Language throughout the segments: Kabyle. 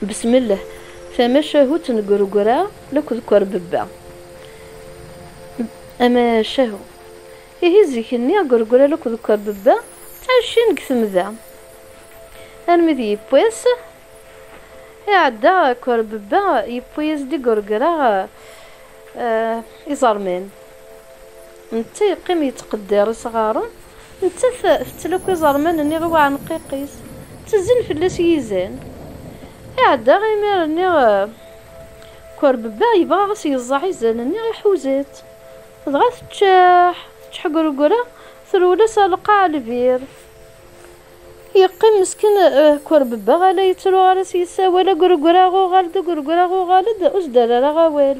Besmelleh, tamacahut n Gregra akked Kwerbebba. Amacahu. Ihi zik-nni Gregra akked Kwerbebba ɛicin deg temda. Armi d yiwwas iɛedda Kwerbebba yewwi-yas-d i Gregra iẓerman. Netta yeqqim yettqeddir isɣaren, nettat tettlaki iẓerman-nni i uɛenqiq-is, ttezzin fell-as yizan. Iɛedda imir-nni, Kwerbebba yebɣa a s-yeẓẓeɛ izan-nni, iḥuza-tt, dɣa teččeḥ, tečḥegregra, trewwel-as ar lqaɛa lbir. Yeqqim meskin Kwerbebba ala yettru ara s-yessawal, Agregraɣ uɣal-d, agregraɣ uɣal-d, ur s-d-rri ara awal.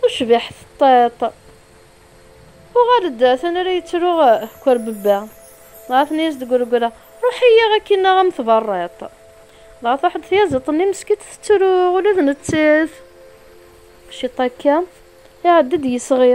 Tucbiḥt ṭṭiṭ. Uɣal-d atan ara yettru Kwerbebba. Dɣa tenna-yas-d Greggra, Ruḥ-iyi akin aɣ-am tberriṭ. Dɣa truḥ-d tyaziḍt-nni meskitt tettru ula d nettat. Ciṭ akka, iɛedda-d yisɣi.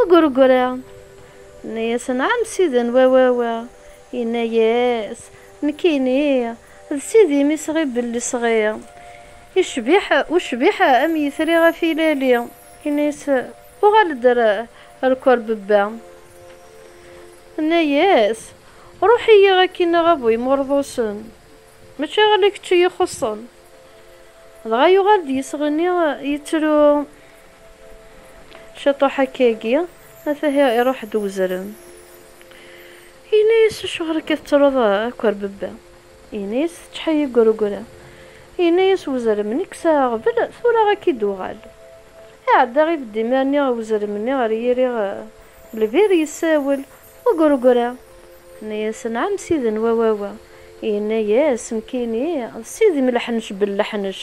Ugrugri. Yenna-yas, Nɛam siden wawawa. Yenna-yas, Nekkini d sidi-m i sɣibel lesɣi. Yecbiḥ ucbiḥ am yitri ɣef ilali. Yenna-yas, Uɣal-d ar Kurbebba. Yenna-yas, Ruḥ-iyi akkin a ɣabu imurḍusen. Mačči ala kečč i yi-xuṣṣen. Dɣa yuɣal-d yesɣi-nni yettru. Ciṭuḥ akkagi, at ahi iruḥ-d wezrem. Yenna-yas, Acuɣer akka tettruḍ akk a rbebba? Yenna-yas, Teččḥi igurugura. Yenna-yas wezrem, Nekk s aɣbel, tura a k-id-uɣal. Iɛedda ibedd imir-nni wezrem-nni ɣer yiri lbir, yessawel, Ugurugura! Yenna-yas, Nɛam sidi n wawawa. Yenna-yas, Nekkini d sidi n leḥnec belleḥnec.